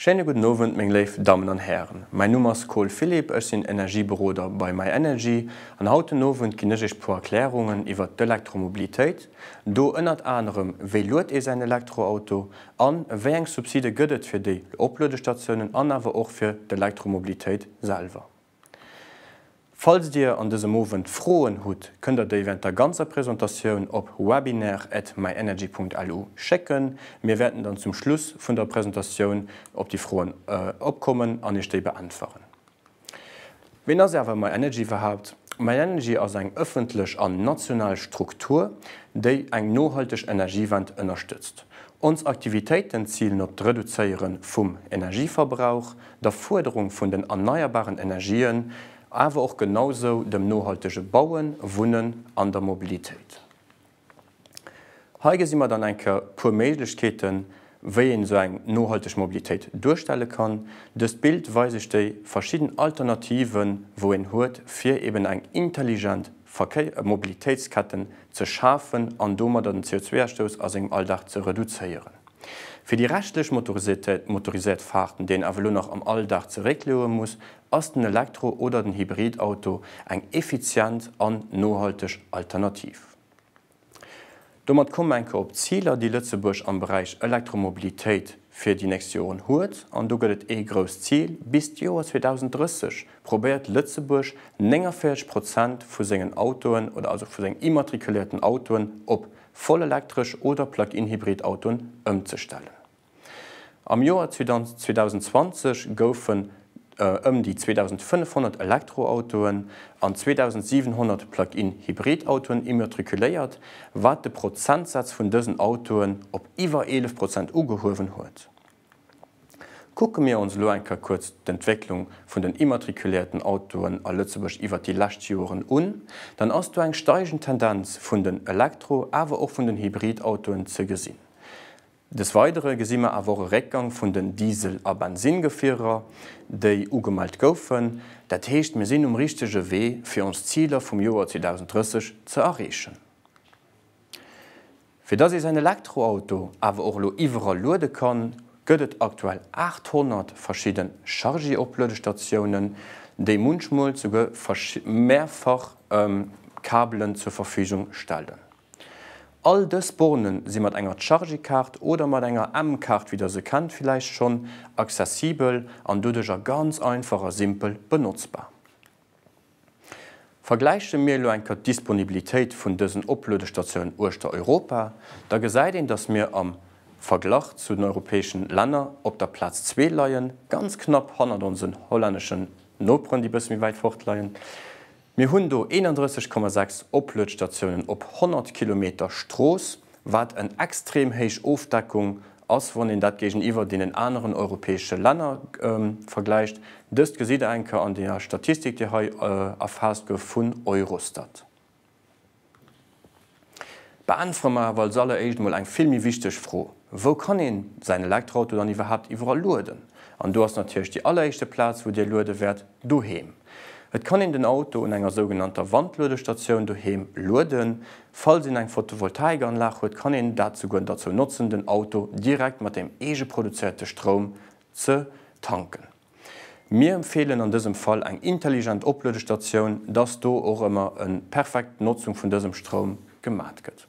Schéine gudden Owend, meng léif Dammen an Hären. Mäin Numm ass Cole Philippe, ech sinn Energieberoder bei MyEnergy an haut den Owend ginn ech iech puer Erklärungen iwwert d'Elektromobilitéit do, ënnert anerem wéi luet ee säin Elektroauto an wéi eng Subside gëtt et fir déi Opluedestatiounen an awer och fir d'Elektromobilitéit selwer. Falls Dir an dësem Owend Froen hutt, kënnt Der déi während der ganzer Presentatioun op webinar@myenergy.lu schécken. Mir wäerten dann zum Schluss vun der Presentatioun op déi Froen opkommen an Iech déi beäntweren. Ween ass awer myenergy iwwerhaapt? Myenergy ass eng ëffentlech an national Struktur, déi eng nohalteg Energiewend ënnerstëtzt. Ons Aktivitéiten zilen op d'Reduzéiere vum Energieverbrauch, der Fuerderung vun den erneierbaren Energien, awer och genausou dem nohaltege Bauen, Wunnen an der Mobilitéit. Hei gesi mer dann eng Kéier e puer Méiglechkeeten, wéi een esou eng nohalteg Mobilitéit duerstelle kann. Dëst Bild weis ech déi verschidden Alternativen, wou een huet, fir eben eng intelligent Verkéi Mobilitéitsketten ze schafen an domadder den CO2-Ausstouss a sengem Alldag ze reduzéieren. Fir déi reschtlech motoriséiert Fahrten, déi een awer elo nach am Alldag zeréckleoe muss, ass den Elektro oder den Hybridauto eng effizient an nohalteg Alternativ. Domat komm mer eng Kéier op d'Ziler, déi Lëtzebuerg am Beräich Elektromobilitéit fir déi nächst Joren huet. An do gëtt et ee grousst Zil, Bis d'Joer 2030 probéiert Lëtzebuerg 49 Prozent vu sengen Autoen, oder also vu sengen immatrikuléierten Autoen, op voll elektresch oder Plug-in Hybrid Autoen ëmzestellen. Am Joer 2020 goufen ëm déi 2.500 Elektroautoen an 2.700 Plug-in Hybrid Autoen immatrikuléiert, wat de Prozentsaz vun dësen Autoen op iwwer 11 Prozent ugehuewen huet. Kucke mir ons elo eng Kéier kuerz d'Entwécklung vun den immatrikulierten Autoen a Lëtzebuerg iwwert déi lescht Joren un, dann ass do eng steigend Tendenz vun den Elektro-, awer och vun den Hybridautoen ze gesinn. Des Weidere gesi mer awer och e Réckgang vun den Diesel a Bensingefierer, déi ugemellt goufen. Dat heescht, mir sinn um richtege Wee, fir ons Ziler vum Joer 2030 ze erreechen. Fir dass ee säin Elektroauto awer och elo iwwerall luede kann, gëtt et aktuell 800 verschidde Chargy-Opluedestatiounen, déi munchmol souguer mehrfach Kabelen zur Verfügung stellen. All dës Borne si mat enger Chargy-Kaart oder mat enger M-Kaart, wéi der se kennt villäicht schonn, accessibel an doduercher ganz einfach a simpel benotzbar. Vergläiche mir elo eng Kër d'Disponibilitéit vun dësen Opluedestatiounen uechter Europa, da gesäit een, datt mir am Verglach zu den europäeschen Länner op der Plaz zwee leien, ganz knapp hannert onsen hollänneschen Noperen, déi bësse méi wäit fort leien. Mir hunn do 31,6 Opluedstatiounen op 100 Kilometer Strooss, wat en extrem héich Ofdeckung ass, wann een dat géigeniwwer deenen aneren europäesche Länner vergläicht. Dëst gesitt Der eng Kéier an der Statistik, déi hei erfaasst gouf vun Eurostat. Beäntwere mer awer als alleréischt emol eng vill méi wichteg Fro, Wou kann een säin Elektroauto dann iwwerhaapt iwwerall lueden? An do ass natierlech déi alleréischte Plaz, wou Dir luede wäert, doheem. Et kann een den Auto un enger sougenannter Wandluedestatioun doheem lueden. Falls een eng Photovoltaikanlag huet, kann een dat souguer derzou notzen, den Auto direkt mat dem eegeproduzéierte Stroum ze tanken. Mir empfeelen an dësem Fall eng intelligent Opluedestatioun, dass do och ëmmer e perfekt Notzung vun dësem Stroum gemat gëtt.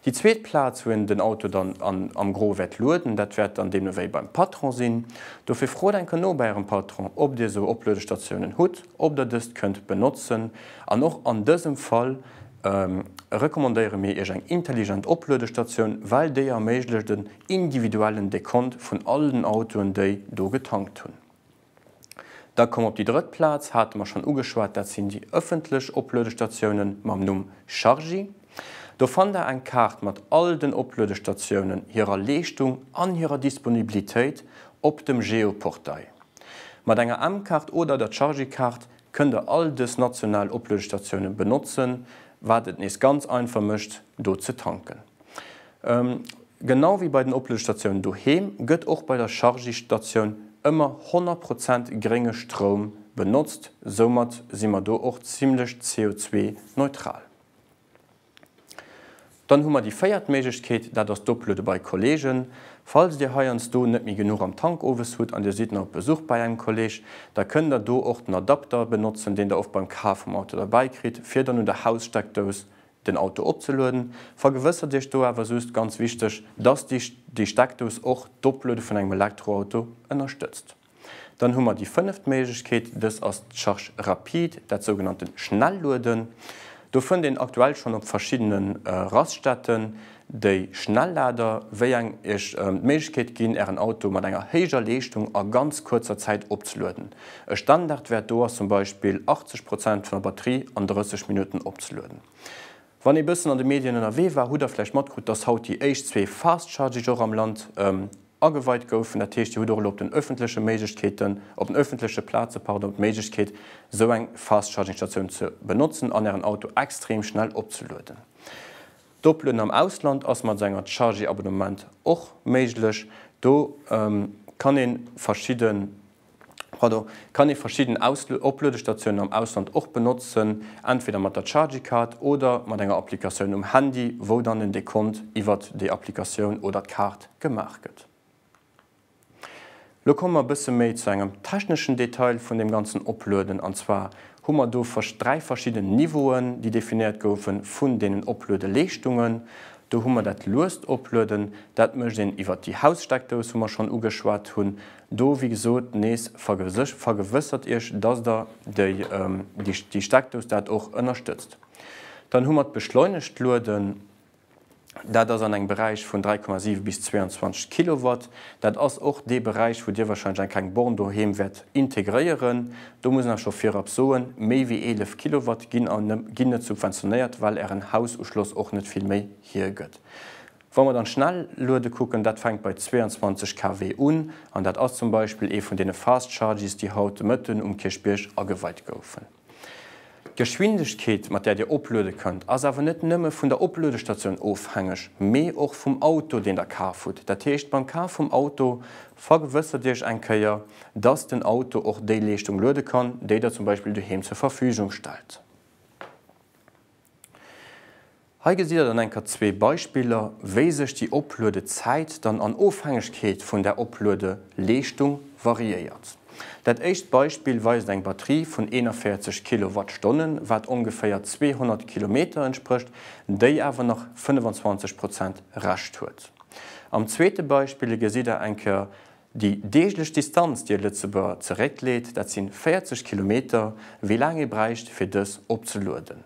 Déi zweet Plaz, wou een den Auto dann an am Gros wäert lueden, dat wäert dann deemno wéi beim Patron sinn. Dofir frot enker no bei ärem Patron, ob dir esou Opluedestatiounen hutt, ob der dëst kënnt benotzen an och an dësem Fall, recommandéiere mir Iech eng intelligent Opluedestatioun, well déi erméiglecht en individuellen Dekont vun all den Autoen, déi do getankt hunn. Da komme mer op déi drëtt Plaz, hate mer schonn ugeschwat, dat sinn déi ëffentlech Opluedestatioune mam Numm Chargy. Do fannt Der eng Kaart mat all den Opluedestatiounen, hirer Leeschtung an hirer Disponibilitéit op dem Geoportail. Mat enger M-Kaart oder der Chargy-Kaart kënnt der all dës national Opluedestatiounen benotzen, wat et nees ganz einfach mécht do ze tanken. Genau wéi bei den Opluedestatiounen doheem gëtt och bei der Chargy-Statioun ëmmer 100 Prozent grénge Stroum benotzt, soumat si mer do och zimmlech CO2-neutral. Dann hu mer déi véiert Méiglechkeet, dat ass d'Opluede bei Kolleegen. Falls Dir heiansdo net méi genuch am Tank owes hutt an Dir sidd nach op Besuch bei engem Kolleeg, da kënnt Der do och den Adapter benotzen, deen Der oft beim Kaf vum Auto derbäi kritt, fir dann un der Haussteckdous den Auto opzelueden. Vergewëssert Iech do awer just, ganz wichteg, dass déi Steckdous och d'Opluede vun engem Elektroauto ënnerstëtzt. Dann hu mer déi fënneft Méiglechkeet, dës ass d'Charge rapide, dat sougenannte Schnellueden. Do fënnt een aktuell schonn op verschiddene Raststätten déi Schnelllader, wéi eng Iech d'Méiglechkeet ginn, Ären Auto mat enger héijer Leeschtung a ganz kuerzer Zäit opzelueden. E Standardwäert do ass zum Beispill 80 Prozent vun der Batterie an 30 Minutten opzelueden. Wann ee bëssen an de Medien ënnerwee war, hutt Der vläicht matkrut, dass haut déi éischt zwee Fast Charging och am Land ageweit goufen. Dat heescht, Dir hutt och elo op den öffentleche Méiglechkeeten, op den öffentleche Plaze, pardon, d'Méiglechkeet, esou eng Fast-Charging-Statioun ze benotzen an Ären Auto extrem schnell opzelueden. D'Oplueden am Ausland ass mat esou enger Chargy-Abonnement och méiglech. Do kann ee verschidde. Pardon, kann ee verschidden Opluedestatiounen am Ausland och benotzen, entweder mat der Chargy-Card oder mat enger Applikatioun um Handy, wou dann den Dekont iwwert déi Applikatioun oder d'Kaart gemaach gëtt. Lo komme mer e bësse méi zu engem techneschen Detail vun deem ganzen Oplueden, an zwar hu mer do dräi verschidden Niveauen, déi definéiert goufe vun deenen Opluedeleeschtungen. Do hu mer dat luest Oplueden, dat mécht een iwwert déi Haussteckdous, wou mer schonn ugeschwat hunn, Do, wéi gesot, nees, vergewëssert Iech, dass Der déi Steckdous dat och ënnerstëtzt. Dann hu mer d'beschleunegt Lueden. Dat ass an engem Beräich vun 3,7 bis 22 Kilowatt. Dat ass och dee Beräich, wou Dir wahrscheinlech eng kleng Born doheem wäert integréieren. Do muss ech nach scho virab soen, méi wéi 11 Kilowatt ginn net subventionéiert, well Ären Haususchloss och net vill méi hiergëtt. Wa mer dann d'Schnelluede kucken, dat fänkt bei 22 KW un, an dat ass zum Beispill ee vun deene Fast Charges, déi haut de Mëtten um Kierchbierg ageweit goufen. D'Geschwindegkeet, mat där Dir opluede kënnt, ass awer net nëmme vun der Opluedestatioun ofhängeg, mee och vum Auto, deen Der kaf hutt. Dat heescht, beim Kaf vum Auto vergewëssert Iech eng Kéier, dass den Auto och déi Leeschtung luede kann, déi Der zum Beispill doheem zur Verfügung stellt. Hei gesitt der dann enker zwee Beispiller, wéi sech déi Opluedezäit dann an Ofhängegkeet vun der Opluedeleeschtung variéiert. Dat éischt Beispill weist eng Batterie vun 41 Kilowattstonnen, wat ongeféier 200 Kilometer entsprécht, déi awer nach 25 Prozent Rescht huet. Am zweete Beispille gesitt der enker Déi deeglech Distanz, déi e Lëtzebuerger zeréckleet, dat si 40 Kilometer, wéi laang ee bräicht, fir dës opzelueden.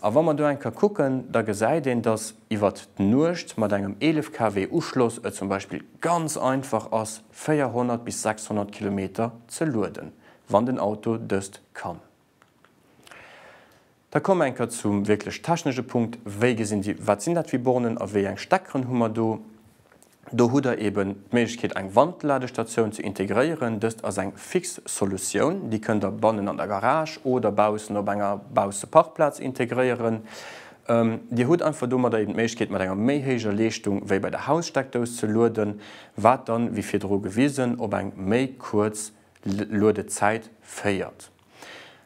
A wa mer do eng Kéier kucken, da gesäit een, datt iwwert d'Nuecht mat engem 11 KW Uschloss et zum Beispill ganz einfach ass, 400 bis 600 Kilometer ze lueden, wann den Auto dëst kann. Da komme enk ka zum wierklech technesche Punkt, Wéi gesinn déi, wat sinn dat fir Bornen a wéi eng Steckeren hu mer do? Do hutt Der eeben d'Méiglechkeet, eng Wandladestatioun ze integréieren. Dëst ass eng fix Solutioun. Déi kënnt Der bannen an der Garage oder baussen op enger Bausseparkplaz integréieren. Dir hutt einfach domadder eeben d'Méiglechkeet, mat enger méi héijer Leeschtung wéi bei der Haussteckdous ze lueden, wat dann, wéi virdru gewisen, op eng méi kuerz Luedezäit féiert.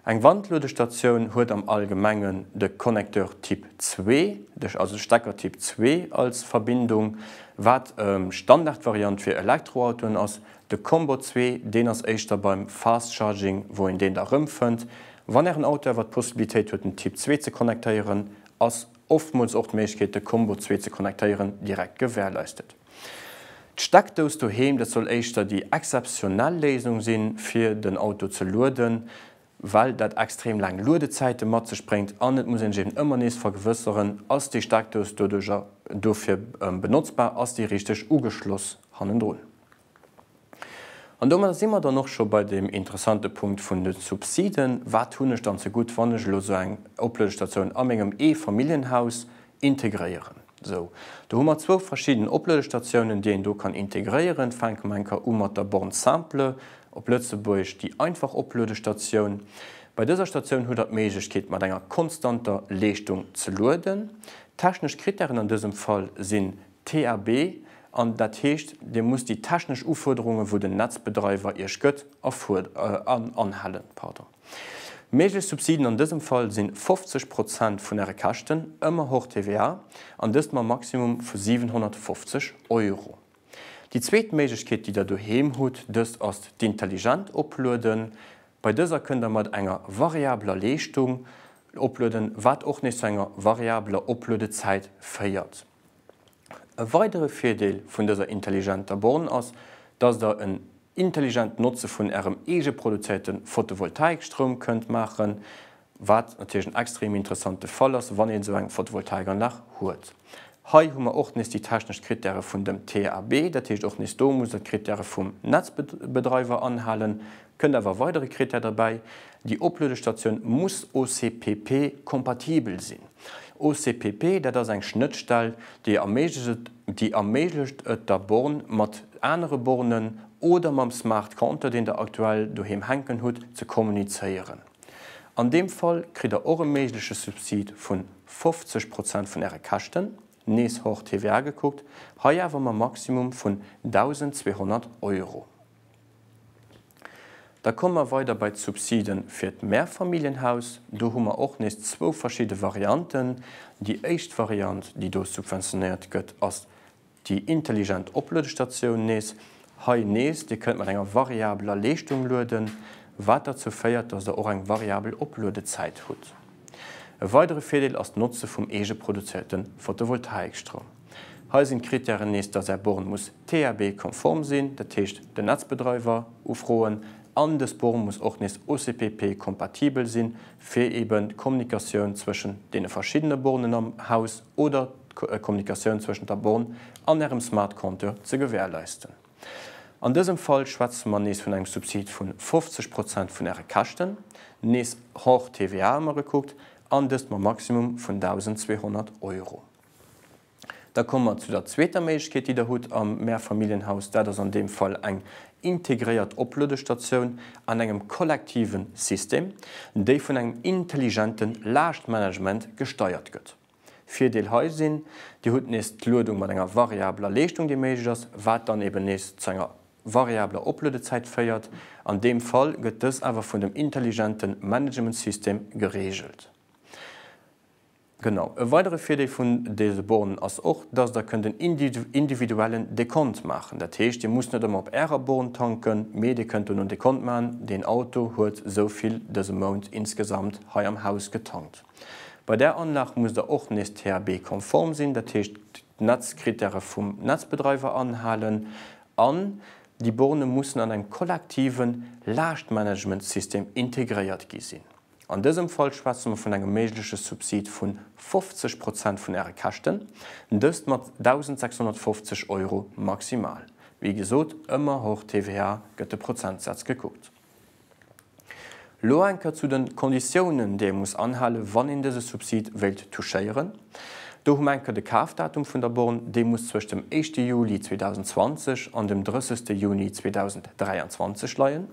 Eng Wandluedestatioun huet am Allgemengen de Connecteur Typ 2, de, also de Stecker Typ 2 als Verbindung, wat Standardvariant fir Elektroautoen ass. De Combo 2, deen ass éischter beim Fast Charging wou een deen da rëmfënnt. Wann ären Auto awer d'Possibilitéit huet den Typ 2 ze connectéieren, ass oftmools och d'Méiglechkeet de Combo zwee ze connectéieren, direkt gewährleistet. D'Steckdous doheem, dat soll éischter déi exzeptionell Léisung sinn, fir den Auto ze lueden, well dat extrem laang Luedezäite mat sech bréngt an et muss een sech eben ëmmer nees vergewësseren, Ass déi Steckdous doduerjer dofir benotzbar, ass déi richteg ugeschloss hannendrun? An domadder si mer dann och scho bei deem interessante Punkt vun de Subsiden. Wat hunn ech dann zegutt, wann ech elo esou eng Opluedestatioun a mengem Eefamilljenhaus integréieren? Sou, do hu mer zwou verschidden Opluedestatiounen, déi een do kann integréieren. Fänke mer enker u mat der Borne simple, op Lëtzebuergesch déi einfach Opluedestatioun. Bei dëser Statioun hutt Der d'Méiglechkeet, mat enger konstanter Leeschtung ze lueden. D'technesch Krittären an dësem Fall sinn TAB, an dat heescht, Dir musst déi technesch Ufuerderungen, wou den Netzbedreiwer Iech gëtt, anhalen. Méiglech Subsiden an dësem Fall si 50 Prozent vun Äre Käschten, ëmmer hors TVA, an dëst mam Maximum vu 750 Euro. Déi zweet Méiglechkeet, déi Der doheem hutt, dëst ass d'intelligent Oplueden. Bei dëser kënnt Der mat enger variabler Leeschtung oplueden, wat och nees zu enger variabler Opluedezäit féiert. E weidere Virdeel vun dëser intelligenter Born ass, dass der en intelligent Notze vun ärem eegeproduzéierte Fotovoltaikstroum kënnt maachen, wat natierlech en extrem interessante Fall ass, wann een esou eng Fotovoltaikanlag huet. Hei hu mer och nees déi technesch Krittäre vun dem TAB, dat heescht och nees do muss der d'Krittäre vum Netzbedreiwer anhalen, Kënnt awer e weidere Krittär derbäi, Déi Opluedestatioun muss OCPP-kompatibel sinn. OCPP, dat ass eng Schnëttstell, déi erméiglecht et der Born, mat anere Bornen oder mam Smart Compteur, deen Der aktuell doheem hänken hutt, ze kommunizéieren. An deem Fall kritt Der och e méigleche Subsid vu 50 Prozent vun Äre Käschten, nees hors TVA gekuckt, hei awer mam Maximum vun 1.200 Euro. Da komme mer weider bei d'Subside fir d'Mehrfamilienhaus. Do hu mer och nees zwou verschidde Varianten. Déi éischt Variant, déi do subventionéiert gëtt, ass déi intelligent Opluedestatioun nees. Hei nees, Dir kënnt mat enger variabeler Leeschtung lueden, wat derzou féiert, dass Der och eng variabel Opluedezäit hutt. E weidere Virdeel ass d'Notze vum eegeproduzéierte Photovoltaikstroum. Hei sinn d'Kritären nees, dass Är Born muss THB-konform sinn, dat heescht den Netzbedreiwer ufroen, an dës Born muss och nees OCPP-kompatibel sinn, fir eben d'Kommunikatioun zwëschen deene verschiddene Bornen am Haus oder d'Kommunikatioun zwëschent der Born an Ärem Smart Compteur ze gewährleisten. An dësem Fall schwätze mer nees vun engem Subsid vu 50 Prozent vun Äre Käschten, nees hors TVA ëmmer gekuckt, an dëst mam Maximum vun 1.200 Euro. Da komme mer zu der zweeter Méiglechkeet, déi Der hutt am Mehrfamilienhaus. Dat ass an deem Fall eng integréiert Opluedestatioun an engem kollektive System, déi vun engem intelligente Laaschtmanagement gesteiert gëtt. Virdeel hei sinn, Dir hutt nees d'Luedung mat enger variabeler Leeschtung, déi méiglech ass, wat dann eben nees zu enger variabeler Opluedezäit féiert. An deem Fall gëtt dës awer vun dem intelligente Managementsystem gereegelt. Genau. E weidere Virdeel vun dese Bornen ass och, dass der kënnt en individuellen Dekont maachen. Dat heescht, dir musst net ëmmer op ärer Born tanken, mee dir kënnt do en Dekont maachen, deen Auto huet esou vill dëse Mount insgesamt hei am Haus getankt. Bei där Anlag musst der och nees THB-konform sinn, dat heescht d'Netzkrittäre vum Netzbedreiwer anhalen an déi Borne mussen an engem kollektiven Laaschtmanagementsystem integréiert gi sinn. An dësem Fall schwätze mer vun engem méigleche Subsid vu 50 Prozent vun Äre Käschten, dëst mat 1.650 Euro maximal. Wéi gesot, ëmmer hors TVA gëtt de Prozentsaz gekuckt. Lo eng Kéier zu de Konditiounen, déi ee muss anhalen, wann een dëse Subsid wéilt touchéieren. Do hu mer eng Kéier de Kafdatum vun der Born, dee muss zwëscht dem éischte Juli 2020 an dem 30. Juni 2023 leien.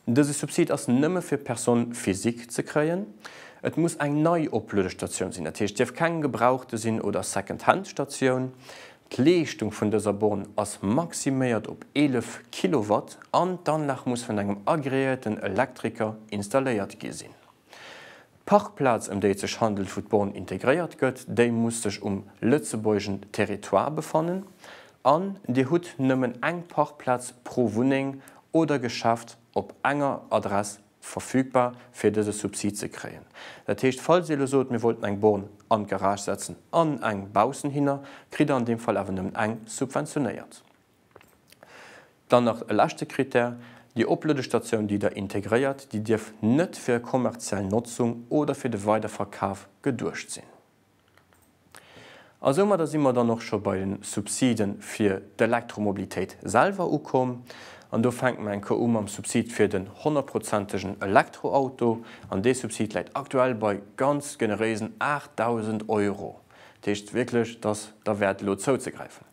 Dëse Subsid ass nëmme fir Personne physique ze kréien. Et muss eng nei Opluedestatioun sinn, dat heescht, dierf keng gebrauchte sinn oder Second-Hand-Statioun. D'Leeschtung vun dëser Born ass maximéiert op 11 Kilowatt an d'Anlag muss vun engem agreéierten Elektriker installéiert gi sinn. D'Parkplaz, ëm déi et sech handelt, wou d'Born integréiert gëtt, déi muss sech um lëtzebuergeschen Territoire befannen an Dir hutt nëmmen eng Parkplaz pro Wunneng oder Geschäft op enger Adress verfügbar, fir dëse Subsid ze kréien. Dat heescht, falls Dir elo sot, mir wollten eng Born an d'Garage setzen an eng baussen hinner, kritt Der an deem Fall awer nëmmen eng subventionéiert. Dann nach e leschte Critère, Déi Opluedestatioun, déi Der integréiert, déi dierf net fir e kommerziell Notzung oder fir de Weiderverkaf geduecht sinn. A soumadder si mer dann och scho bei de Subside fir d'Elektromobilitéit selwer ukomm. An do fänke mer eng Kéier u mam Subsid fir den honnertprozentegen Elektroauto. An dee Subsid läit aktuell bei ganz generéisen 8.000 Euro. Dat heescht wierklech, dass derwäert elo zouzegräifen.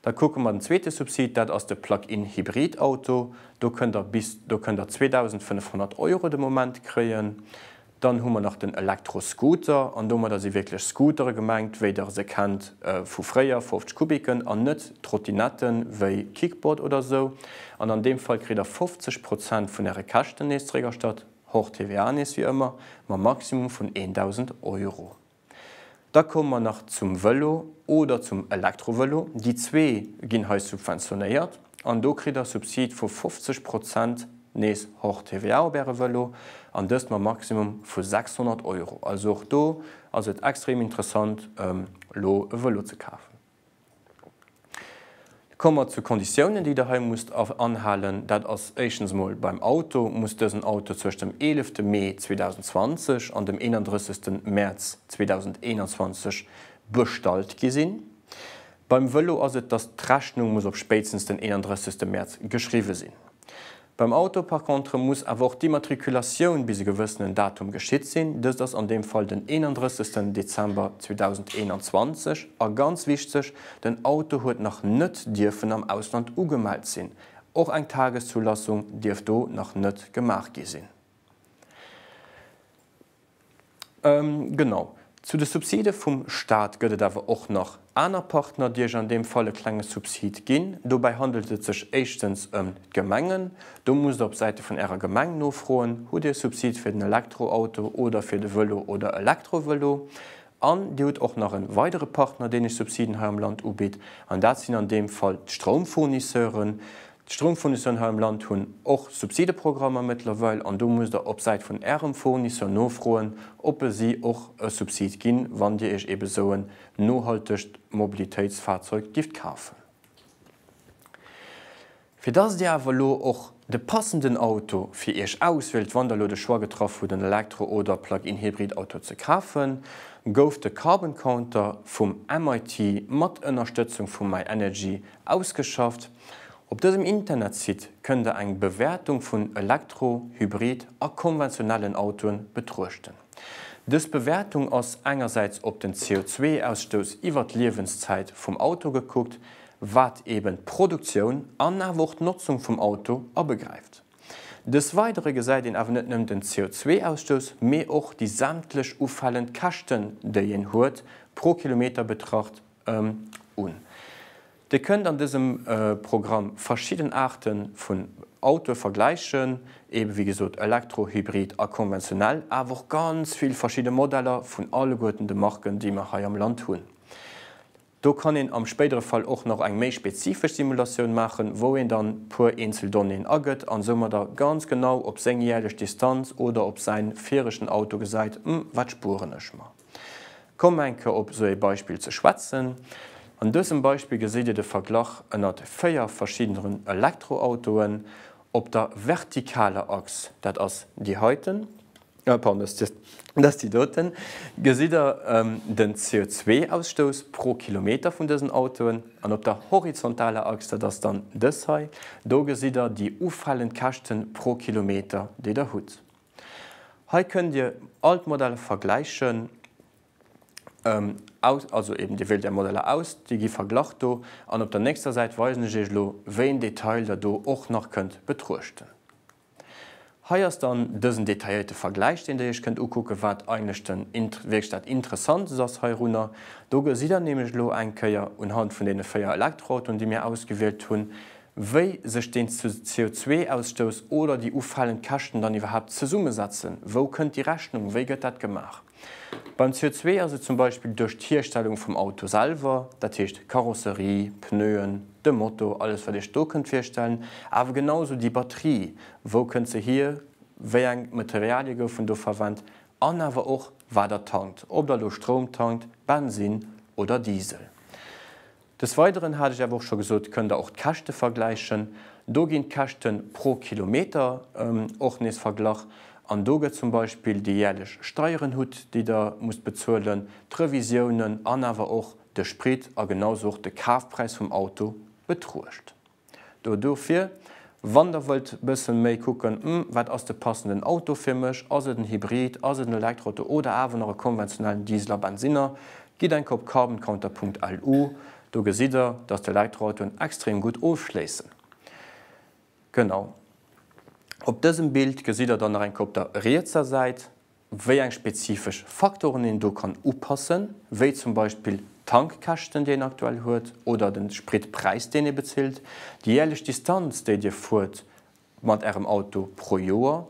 Da kucke mer den zweete Subsid, dat ass de Plug-in Hybrid Auto. Do kënnt Der bis, do kënnt Der 2.500 Euro de Moment kréien. Dann hu mer nach den Elektro-Scooter, an domadder si wierklech Scootere gemengt, wéi Der se kennt vu fréier, 50 Kubiken, an net Trottinette wéi Kickboard oder esou. An an deem Fall kritt Der 50 Prozent vun Äre Käschten nees zréck erstatt, hors TVA nees wéi ëmmer, mam Maximum vun 1.000 Euro. Da komme mer nach zum Vëlo oder zum Elektrovëlo. Déi zwee ginn hei subventionéiert an do kritt Der Subside vu 50 Prozent, nees hors TVA, op Äre Vëlo an dëst mam Maximum vu 600 Euro. Also och do ass et extrem interessant elo e Vëlo ze kafen. Komme mer zu Konditiounen, déi Der hei musst anhalen. Dat ass éischtens emol, Beim Auto muss dësen Auto zwëscht dem 11 Mee 2020 an dem 31 Mäerz 2021 bestallt gi sinn. Beim Vëlo ass et, dass d'Rechnung muss op spéitstens den 31 Mäerz geschriwwe sinn. Beim Auto par contre muss awer och d'Immatrikulatioun bis e gewëssenen Datum geschitt sinn, dëst ass an deem Fall den 31 Dezember 2021, a ganz wichteg, den Auto huet nach net dierfen am Ausland ugemellt sinn, och eng Tageszulassung dierf do nach net gemaach gi sinn. Genau. Zu de Subside vum Staat gëtt et awer och nach aner Partner, déi Iech an deem Fall e klenge Subsid ginn. Dobäi handelt et sech éischtens ëm d'Gemengen. Do musst Der op Säite vun Ärer Gemeng nofroen, Hutt Dir e Subsid fir den Elektroauto oder fir de Vëlo oder Elektrovëlo? An Dir hutt och nach en weidere Partner, deen lech Subsiden hei am Land ubitt, an dat sinn an deem Fall d'Stroumfournisseuren. D'Stroumfournisseuren hei am Land hunn och Subsideprogrammer mëttlerweil, an do musst Der op Säit vun Ärem Fournisseur nofroen, ob e si och e Subsid ginn, wann Dir Iech ebe sou en nohaltegt Mobilitéitsfahrzeug gift kafen. Fir dass Dir awer elo och de passenden Auto fir Iech auswielt, wann Der elo de Choix getraff hutt en Elektro oder Plug-in Hybrid Auto ze kafen, gouf de Carbon Counter vum MIT mat Ënnerstëtzung vu My Energy ausgeschafft. Op dësem Internetsite kënnt Der eng Bewäertung vun Elektro-, Hybrid a konventionellen Autoen betruechten. Dës Bewäertung ass engersäits op den CO2-Ausstouss iwwert d'Liewenszäit vum Auto gekuckt, wat eben d'Produktioun an awer och d'Notzung vum Auto abegräift. Dës weidere gesäit een awer net nëmmen den CO2-Ausstouss, mee och déi sämtlech ufalend Käschten, déi een huet, pro Kilometer betracht, un. Dir kënnt an dësem Programm verschidden Aarte vun Autoe vergläichen, eben, wéi gesot, Elektro, Hybrid a konventionell, awer och ganz vill verschidde Modeller vun alleguerten de Marken, déi mer hei am Land hunn. Do kann een am spéidere Fall och nach eng méi spezifesch Simulatioun maachen, wou een dann puer eenzel Donnéeën agëtt an soumadder ganz genau op seng jäerlech Distanz oder op säin viregen Auto gesäit, Hm, wat spueren ech mer? Komm enke op sou ee Beispill ze schwätzen. An dësem Beispill geséit Dir de Verglach ënnert véier verschiddeneren Elektroautoen op der vertikaler Achs, dat ass déi heiten, Dass déi doten gesitt der den CO2-Ausstouss pro Kilometer vun dësen Autoen, an op der horizontaler Achs, dat ass dann dës hei, do gesitt der déi ufalend Käschten pro Kilometer, déi der hutt. Hei kënnt Dir all d'Modeller vergläichen, also eben Dir wielt Är Modeller aus, déi gi verglach do, an op der nächster Säit weisen ech Iech elo, wéi en Detail der do och nach kënnt betruechten. Hei ass dann dësen detailléierte Vergläich deen der iech kënnt ukucken wat eigentlech den wierklech dat Interessantes ass heirunner. Do gesitt der nämlech elo eng Kéier unhand vun deene 4 Elektroautoen déi mir ausgewielt hunn, wéi sech deen CO2-Ausstouss oder déi ufalend Käschten dann iwwerhaapt zesummesetzen. Wou kënnt déi Rechnung, wéi gëtt dat gemaach? Beim CO2 ass et zum Beispill duerch d'Hierstellung vum Auto selwer, dat heescht Karosserie, Pneuen, de Moto, alles wat Iech do kënnt virstellen, awer genau esou déi Batterie, wou kënnt se hier, wéi eng Materialie goufen do verwennt an awer och wat Der tankt, ob Der elo Stroum tankt, Bensinn oder Diesel. Des Weideren, hat ech awer och scho gesot, kënnt Der och d'Käschte vergläichen. Do ginn d'Käschte pro Kilometer och nees verglach an do gëtt zum Beispill déi jäerlech Steieren hutt, déi Der musst bezuelen, d'Revisiounen an awer och de Sprit a genausou och de Kafpräis vum Auto betruecht. Do dofir, wann der wëllt bëssen méi kucken, hm, wat ass de passenden Auto fir mech, ass et en Hybrid, ass et en Elektroauto oder awer nach e konventionellen Diesel a Bensinner, gitt eng Kopp carboncounter.lu, do gesitt der, dass d'Elektroautoen extrem gutt ofschléissen. Genau op dësem Bild gesitt der dann nach eng Kopp der rietser Säit. wéi eng spezifesch Faktoren een do kann upassen, wéi zum Beispill d'Tankkäschten, déi een aktuell huet, oder de Spritpräis, deen ee bezilt, déi jäerlech Distanz, déi Dir fuert mat Ärem Auto pro Joer.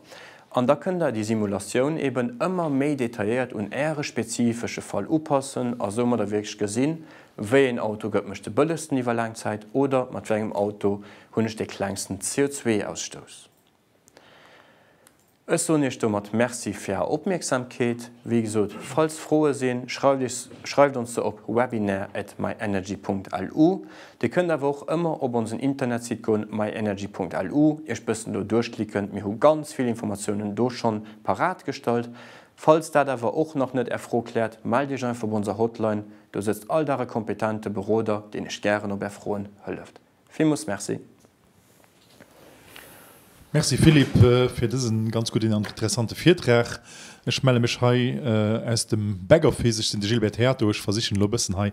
An da kënnt Der déi Simulatioun eeben ëmmer méi detailléiert un Äre spezifesche Fall upassen a soumadder wierklech gesinn, wéi een Auto gëtt mech de bëllegsten iwwer laang Zäit oder mat wéi engem Auto hunn ech dee klengsten CO2-Ausstouss. Ech soen Iech domat Merci fir Är Opmierksamkeet. Wéi gesot, falls Froe sinn, schreift iech, schreift ons se op webinar at myenergy Punkt lu. Dir kënnt awer och ëmmer op onsen Internetsite goen, myenergy Punkt lu, iech bëssen do duerchklicken, mir hu ganz vill Informatiounen do schonn parat gestallt. Falls dat awer och nach net Är Fro kläert, mellt Iech einfach op onser Hotline, do sëtzt all Dag e kompetente Beroder, deen Iech gären op Är Froen hëlleft. Villmoos Merci. Merci Philippe fir dësen ganz gudden an interessante Virtrag. Ech melle mech hei aus dem Backoffice. Ech sinn de Gilbert Theato. Ech versichen elo e bëssen hei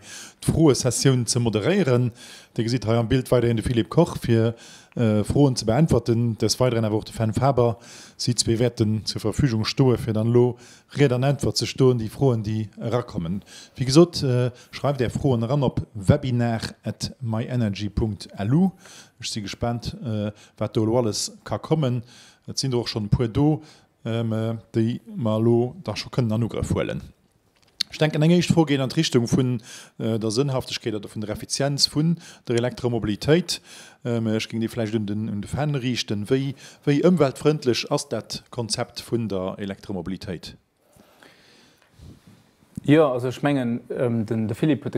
d'Froesessioun ze moderéieren. Dir gesitt hei am Bild weiderhin de Philippe Koch fir Froen ze beäntwerten, des Weideren awer och de Fenn Faber. Si zwee wäerten zur Verfügung stoe fir dann elo Ried an Äntwert ze stoen, déi Froen déi erakommen. Wéi gesot. Schreift är Froen eran op webinar at myenergy.lu. Ech si gespaant, wat do elo alles ka kommen. Et sinn der och schonn e puer do, déi mer elo da scho kënnen an Ugrëff huelen. Ech denken, eng éischt Fro geet an d'Richtung vun der Sënnhaftegkeet oder vun der Effizienz vun der Elektromobilitéit. Ech géing déi vläicht un de Fenn riichten. Wéi ëmweltfrëndlech ass dat Konzept vun der Elektromobilitéit? Jo, also ech mengen, de Philippe huet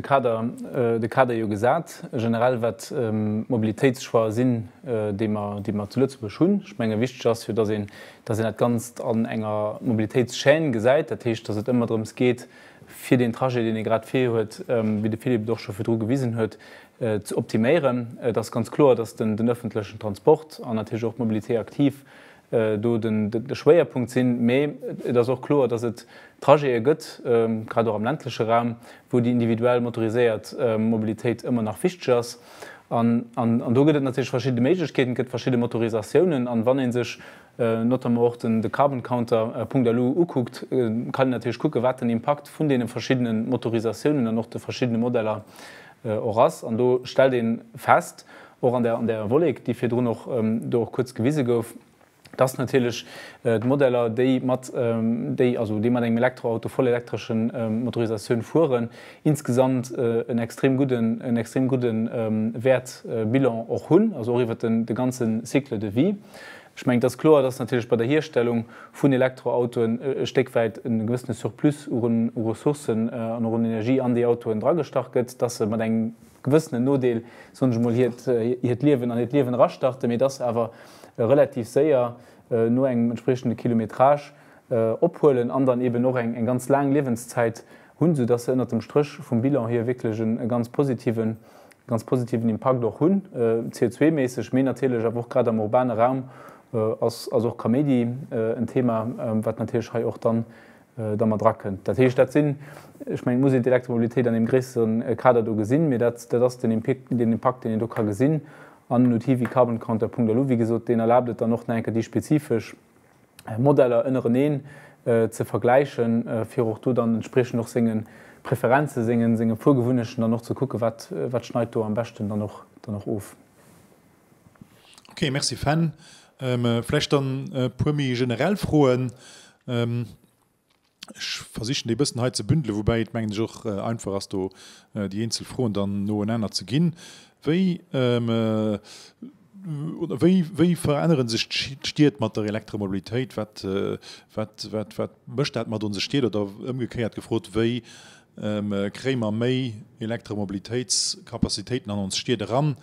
de Kader jo gesat, generell wat d'Mobilitéitschoixë sinn, déi mer zu Lëtzebuerg hunn. Ech menge wichteg ass jo, datt een dat Ganzt an enger Mobilitéitschaîne gesäit. Dat heescht, datt et ëmmer drëms geet, fir deen Trajet, deen ee grad vir huet, wéi de Philippe et och scho virdru gewisen huet, ze optiméieren. Et ass ganz kloer, datt den ëffentlechen Transport an natierlech och d'Mobilité active do de Schwéierpunkt sinn. Mee et ass och kloer, datt et Trajete gëtt, grad och am ländleche Raum, wou déi individuell motoriséiert Mobilitéit ëmmer nach wichteg ass. An do gëtt et natierlech verschidde Méiglechkeeten, et gëtt verschidde Motorisatiounen. An wann ee sech notamment och de Carbon Counter Punkt alu ukuckt, kann een natierlech kucken, wat den Impakt vun deene verschiddene Motorisatiounen an och de verschiddene Modeller och ass. An do stellt ee fest, och an där Wollek, déi virdrun och do och kuerz gewise gouf, dass natierlech d'Modeller, déi mat déi, also déi mat engem Elektroauto, vollelektresche Motorisatioun fueren, insgesamt en extrem gudden, en extrem gudde Wäert, Bilan och hunn, also och iwwert de ganze Cycle de vie. Ech mengen, et ass kloer, dass natierlech bei der Hierstellung vun Elektroautoen e Stéck wäit e gewëssene Surplus u Ressourcen an och un Energie an déi Autoen dragestach gëtt, dass se mat engem gewëssenen Nodeel, soen ech emol, hiert Liewen an hiert Liewen erastarte, mee dass se awer relativ séier no engem entspriechende Kilometrage ophuelen an dann eeben och eng ganz laang Liewenszäit hunn, soudass se ënnert dem Stréch vum Bilan hier wierklech e ganz positiven ganz positiven Impakt och hunn, CO2-méisseg, mee natierlech awer och grad am urbane Raum ass och Kaméidi en Thema, wat natierlech hei och dann da mat erakënnt. Dat heescht, dat sinn, ech mengen, et muss een d'Elektromobilitéit an deem gréissere Kader do gesinn, mee dat ass den Impakt, deen een do ka gesinn. An en Outil wéi Carbon Counter. Punkt a lu, wéi gesot, deen erlaabt et dann och nach eng Kéier déi spezifesch. Modeller ënnereneen ze vergläichen, fir och do dann entspriechend och senge Preferenzen, senge Fuergewunnechten dann och ze kucken, wat schneit do am beschten dann och of. Ok, merci Fenn. Vläicht dann e puer méi generell Froen. Ech versichen déi e bëssen hei ze bündelen, woubäi et, mengen ech, och einfach ass do déi eenzel Froen dann noenaner ze ginn. Wéi, oder wéi, wéi verännere sech d'Stied mat der Elektromobilitéit? Wat, wat, wat, wat mécht dat mat onse Stied? Oder ëmgekéiert gefrot, wéi kréie mer méi Elektromobilitéitskapazitéiten an ons Stied eran?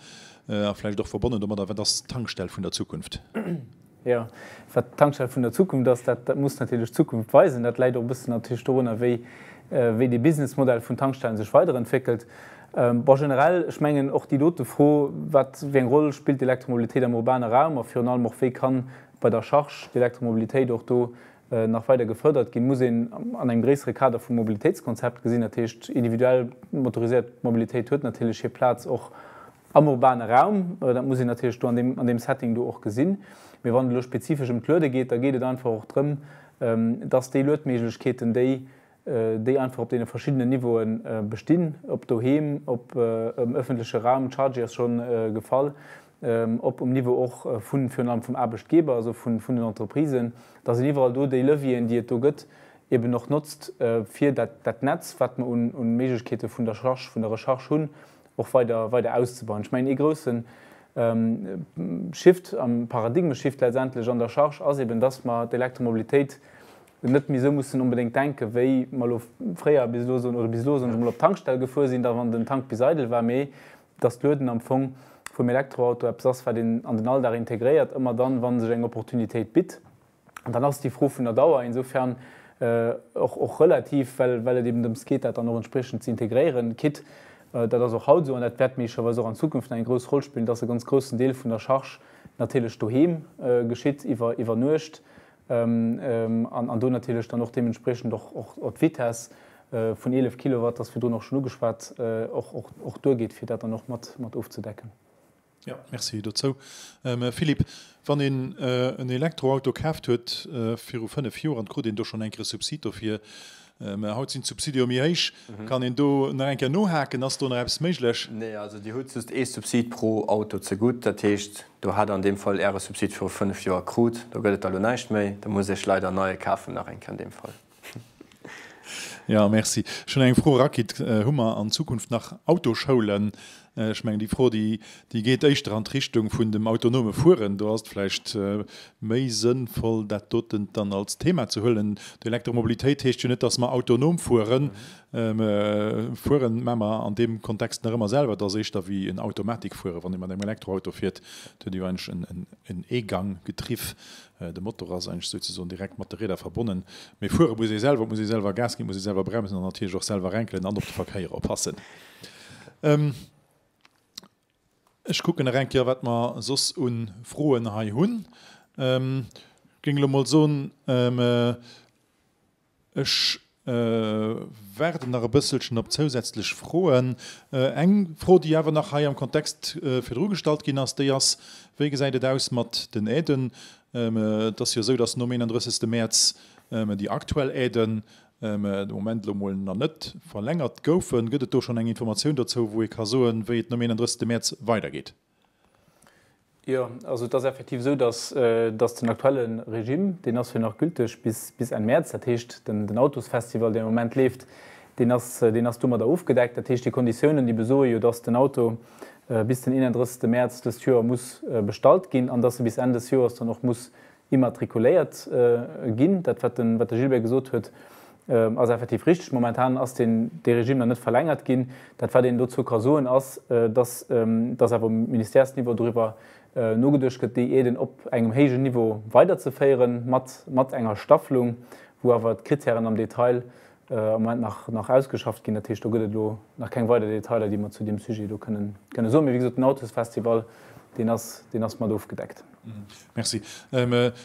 A vläicht och verbonnen domadder, wat ass d'Tankstell vun der Zukunft? Jo, wat d'Tankstell vun der Zukunft ass, dat muss natierlech d'Zukunft weisen. Dat läit och e bëssen natierlech dorunner, wéi dee Businessmodell vun Tankstellen sech weiderentwéckelt. Bon, generell, ech mengen och déi dote Fro, wat wéi eng Roll spillt d'Elektromobilitéit am urbane Raum a virun allem och wéi ka bei der Charge d'Elektromobilitéit och do nach weider gefërdert ginn, muss een an engem gréissere Kader vum Mobilitéitskonzept gesinn. Dat heescht, individuell motoriséiert Mobilitéit huet natierlech hir Plaz och Am urbane Raum, dat muss een natierlech do an deem Setting do och gesinn, mee wann et elo spezifesch ëm d'Luede geet, da geet et einfach och drëm, dass déi Luedméiglechkeeten, déi déi einfach op deene verschiddenen Niveaue bestinn, ob doheem, ob am öffentliche Raum, d'Chargy ass schonn gefall, ob um Niveau och vu virun allem vum Aarbechtgeber, also vun den Entreprisen, dass een iwwerall do déi Levieren, déi et do gëtt, eben och notzt, fir dat Netz, wat mer u Méiglechkeete vun der Recherche hunn, och weider, weider auszubauen. Ech mengen, ee groussen Shift, a Paradigmeshift letztendlech an der Charge ass eben, dass mer d'Elektromobilitéit net méi esou mussen onbedéngt denken, wéi mer elo fréier bis elo esou, oder bis elo, soen ech emol, op d'Tankstell gefuer sinn, da wann den Tank bis eidel war, mee dass d'Lueden am Fong vum Elektroauto eppes ass, wat een an den Alldag integréiert, ëmmer dann, wa sech eng Opportunitéit bitt. An dann ass déi Fro vun der Dauer insofern och relativ, well et eben drëms geet, dat dann och entspriechend ze integréieren, quitt, dat ass och haut esou an dat wäert méiglecherweis och an Zukunft nach eng grouss Roll spillen, dass e ganz groussen Deel vun der Charge natierlech doheem geschitt, iwwer Nuecht, an do natierlech dann och deementspriechend och d'Vitess vun 11 Kilowatt, dat ass virdrun och schonn ugeschwat, och duergeet, fir dat dann och mat ofzedecken. Jo, Merci dozou. Mme Philippe, wann een en Elektroauto kaaft huet viru fënnef Joer an et krut een do schonn eng Kéier Subsid dofir, mä haut sinn d'Subside jo méi héich, kann een do nach eng Kéier nohaken? Ass do nach eppes méiglech? Nee, also Dir hutt just ee Subsid pro Auto zegutt. Dat heescht, do hat Der an deem Fall Äre Subsid viru fënnef Joer krut. Do gëtt et da elo näischt méi. Da musst Dir Iech leider e neie kafen nach eng Kéier an deem Fall. Jo, merci. Ech hunn eng Fro rakritt, Hu mer an Zukunft nach Autoschoulen? Ech mengen, déi Fro, déi geet éischter an d'Richtung vun dem autonome Fueren. Do ass et vläicht méi sënnvoll, dat doten dann als Thema ze huelen. D'Elektromobilitéit heescht jo net, dass mer autonom fueren. Fuere maache mer an deem Kontext nach ëmmer selwer. Et ass éischter wéi en Automatikfuere. Wann ee mat engem Elektroauto fiert, huet ee jo eigentlech en E-Gang-Getriff. De Motor ass eigentlech souzesoen direkt mat de Rieder verbonnen, mee fuere muss ee selwer, et muss ee selwer Gas ginn, et muss ee selwer bremsen an natierlech och selwer renkelen an op de Verkéier oppassen. Ech kucken nach eng Kéier, wat mer soss u Froen hei hunn. Géing elo mol soen, Ech waarden nach e bësselchen op zousätzlech Froen. Eng Fro, déi awer nach hei am Kontext virdru gestallt ginn ass, déi ass, Wéi gesäit et aus mat den Aiden? Et ass jo esou, dass nom 31. Mäerz déi aktuell Aiden de Moment elo emol nach net verlängert goufen. Gëtt et do schonn eng Informatioun dozou, wou ee ka soen, wéi et nom 31. Mäerz weidergeet? Jo, also et ass effektiv esou, datt datt den aktuelle Regime, deen ass jo nach gülteg bis bis Enn Mäerz. Dat heescht, den den Autosfestival, deen am Moment leeft, deen ass deen ass domadder ofgedeckt. Dat heescht, déi Konditiounen, déi besoe jo, datt den Auto bis den 31. Mäerz dëst Joer muss bestallt ginn an datt e bis Enn des Joers dann och muss immatrikuléiert ginn. Dat, wat de Gilbert gesot huet, ass effektiv richtig. Momentan ass dee Regime nach net verlängert ginn. Dat, wat een dozou ka soen, ass, dass awer um Ministèresniveau doriwwer nogeduecht gëtt, déi Aiden op engem héijen Niveau weiderzeféieren, mat enger Staffelung, wou awer d'Krittären am Detail am Moment nach ausgeschafft ginn. Dat heescht, do gëtt et elo nach keng weider Detailer, déi mer zu deem Sujet elo kënne soen. Mee wéi gesot, den Autosfestival, deen ass mat ofgedeckt. Merci.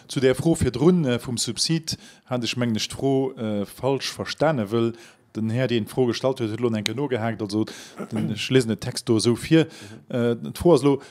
Zu där Fro virdrun vum Subsid hat ech, mengen ech, d'Fro falsch verstanen, wëll den Här, deen d'Fro gestallt huet, huet elo nach eng Kéier nogehaakt. Also, ech liesen den Text do esou vir. D'Fro ass elo,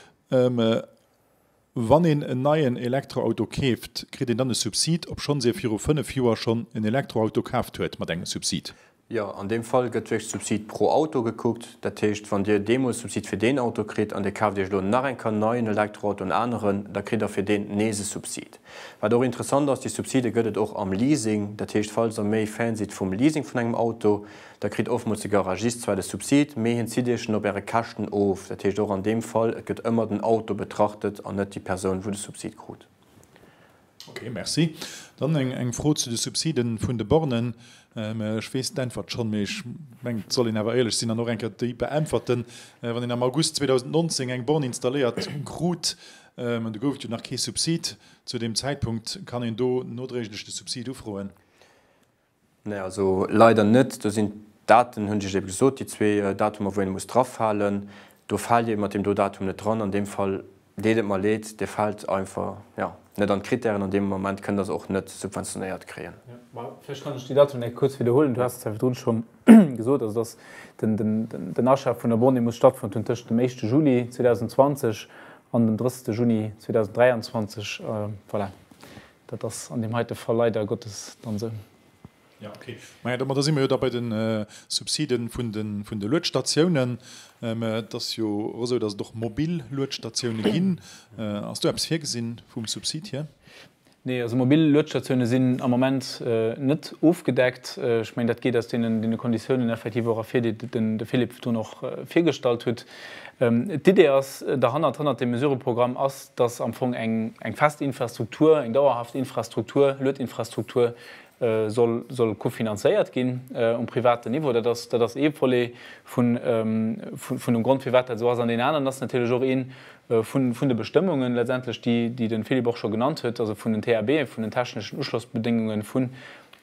Wann een en neien Elektroauto keeft, kritt een dann e Subsid, obschonns ee viru 5 Joer schonn en Elektroauto kaaft huet mat engem Subsid? Jo, an deem Fall gëtt wéinst Subsid pro Auto gekuckt. Dat heescht, wann Dir deemools Subsid fir deen Auto kritt an Dir kaaft Iech elo nach eng Kann nei en Elektroauto, en aneren, da kritt Der fir deen nees e Subsid. Wat och interessant ass, déi Subside gëtt et och am Leasing. Dat heescht, falls Der méi Fan sidd vum Leasing vun engem Auto, Da kritt ofmols de Garagist zwar de Subsid, mee hien zitt iech en op äre Käschten of. Dat heescht och an deem Fall, et gëtt ëmmer den Auto betrachtet an net déi Persoun, wou de Subsid krut. Ok, merci. Dann eng Fro zu de Subside vun de Bornen. Ech weess d'Äntwert schonn, mee ech mengen, et soll een awer éierlech sinn an och eng Kéier déi beäntwerten. Wann een am August 2019 eng Born installéiert krut, an do gouf et jo nach kee Subsid zu deem Zäitpunkt, kann een do nodréiglech de Subsid ufroen? Nee, also leider net. Do sinn d'Daten, hunn ech iech ebe gesot, déi zwee Datumer, wou een e muss drafalen. Do faalt Dir mat deem do Datum net dran. An deem Fall deet et mer leed, Dir faalt einfach, jo, net an d'Krittären. An deem Moment kënnt Der se och net subventionéiert kréien. Mä vläicht kann ech déi Datumen enke kuerz widderhuelen. Du has se zwischendrun scho gesot, also dass den Achat vun Abonné muss stattfonnt hunn tëschent dem éischte Juli 2020 an dem drëtzte Juni 2023. Voilà, Dat ass an deem heite Fall leider Gottes dann esou. Jo, okay. Maja, da, ma da si mer jo da bei de Subside vun de, vun de Luetstatiounen. Mä et ass jo och esou, datt et och mobil Luetstatioune ginn. Ass do eppes virgesinn vum Subsid hier? Nee, also mobil Luetstatioune sinn am Moment net ofgedeckt. Ech mengen, dat geet aus deene Konditiounen effektiv och ervir, déi de Philippe Thun och virgestallt hutt. D'Idee ass derhannert, hannert deem Mesureprogramm, ass, dass am Fong eng fest Infrastruktur, eng dauerhaft Infrastruktur, Luedinfrastruktur soll kofinanzéiert ginn um privaten Niveau. Dat ass ee Volet vun dem Grond, firwat dat esou ass. An deen aneren ass natierlech och ee vun de Bestëmmungen letztendlech, déi de Philippe och scho genannt huet, also vun den TABen, vun den techneschen Uschlossbedéngungen vun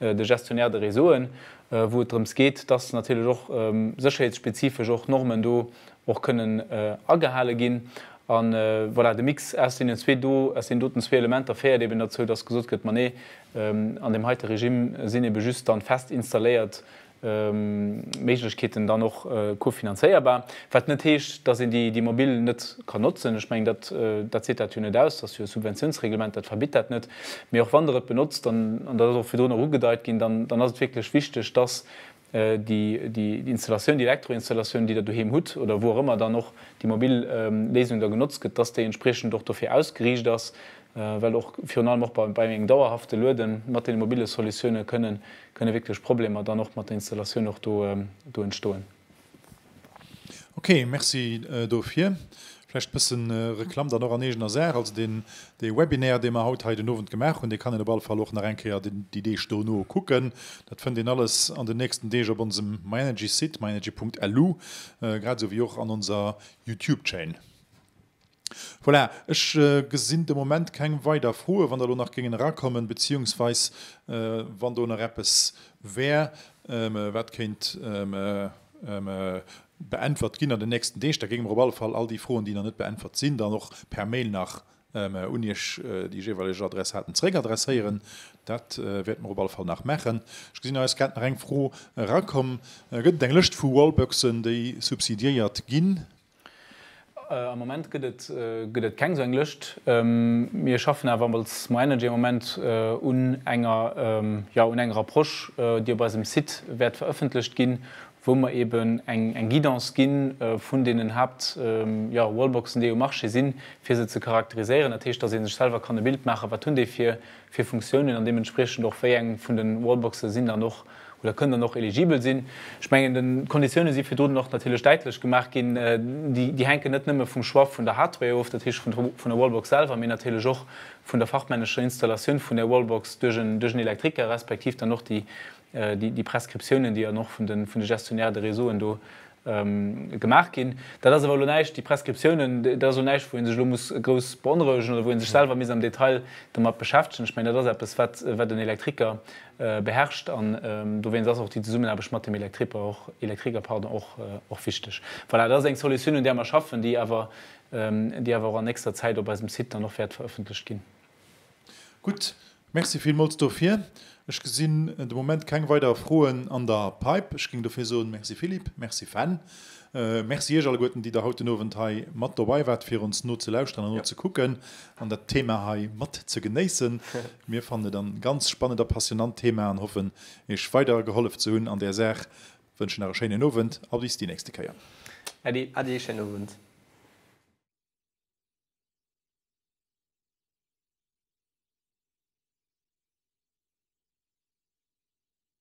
de Gestionnaires de réseauen. wou et drëms geet, dass natierlech och sécherheetsspezifesch och Normen do och kënnen agehale ginn. A voilà, de Mix aus deenen zwee do, aus deenen doten zwee Elementer féiert eben derzou, dass gesot gëtt, ma nee, an deem heite Regime sinn ebe just dann fest installéiert Méiglechkeeten dann och kofinanzéierbar. Wat net heescht, dass een déi mobil net kann notzen. Ech mengen, dat seet dat jo net aus, dass jo e Subventiounsreglement dat verbitt dat net. Mee och wann Der et benotzt, an dat ass och virdrun erëm ugedeit ginn, dann ass et wierklech wichteg, dass déi Installatioun, déi Elektroinstallatioun, déi Der doheem hutt oder wou och ëmmer dann och déi mobil Léisung da genotzt gëtt, dass déi entspriechend och dofir ausgeriicht ass, well och virun allem och bei engem dauerhafte Luede mat deene mobile Solutiounen kënne wierklech Problemer dann och mat der Installatioun och do entstoen. Ok, merci dofir. Vläicht bësse Reklamm dann och an eegener Saach. Also deen dee Webinaire, dee mer haut hei den Owend gemaach hunn, dee kann een op alle Fall och nach eng Kéier déi Deeg dono kucken. Dat fënnt een alles an den nächsten Deeg op onsem myenergy-Site, myenergy.lu, grad esou wéi och an onser Youtube-Chaîne. Voilà, ech gesinn de Moment keng weider Froen. Wann der elo nach géingen erakommen, beziehungsweis wann do nach eppes wär, wat kéint beäntwert ginn an den nächsten Deeg, da géinge mer op alle Fall all déi Froen, déi nach net beäntwert sinn, dann och per Mail nach un Iech, déi jeeweileg Adressaten, zréck adresséieren. Dat wäerte mer op alle Fall nach maachen. Ech gesinn, hei ass grad nach eng Fro erakomm, Gëtt et eng Lëscht vu Wallboxen, déi subsidiéiert ginn? Am Moment gëtt et gëtt et keng esou eng Lëscht. Mir schaffen awer als MyEnergy am Moment un enger, jo un enger Approche, déi op eisem Site wäert verëffentlecht ginn, wou mer eeben eng eng Guidance ginn vun deenen Haapt, jo Wallboxen, déi um Marché sinn, fir se ze charakteriséieren. Dat heescht, dass ee sech selwer kann e Bild maachen, wat hunn déi fir fir Funktiounen an deementspriechend och wéi eng vun de Wallboxe sinn dann och oder kënnen dann och eligibel sinn. Ech mengen, d'Konditioune si virdrun och natierlech däitlech gemaach ginn. Déi hänken net nëmme vum Choix vun der Hardware of, dat heescht vun der Wallbox selwer, mee natierlech och vun der fachmännescher Installatioun vun där Wallbox duerch en Elektriker, respektiv dann och déi Prescriptiounen, déi dann och vun de Gestionnaires de réseauen do gemaach ginn. Dat ass awer elo näischt, déi Prescriptiounen, dat ass elo näischt, wou ee sech elo muss grouss beonrouegen oder wou ee sech selwer misst am Detail domat beschäftegen. Ech mengen, dat ass eppes, wat en Elektriker beherrscht an dowéinst ass och déi Zesummenaarbecht mat dem Elektriper och, Elektriker, pardon, och, och wichteg. Voilà, dat ass eng Solutioun, un där mer schaffen, déi awer, déi awer och an nächster Zäit op eisem Site dann och wäert verëffentlecht ginn. Gutt, merci villmools dofir. Ech gesinn de Moment keng weider Froen an der Pipe. Ech géing dofir soen, Merci Philippe, merci Fenn. Merci iech alleguerten, déi der haut den Owend hei mat dobei waart, fir ons nozelauschteren an nozekucken an dat Thema hei mat ze genéissen. Mir fannen et an ganz spannend a passionant Thema an hoffen, iech weider gehollef ze hunn an där Saach. Wënschen nach e schéinen Owend a bis déi nächste Kéier. Äddi, Adi, schéinen Owend.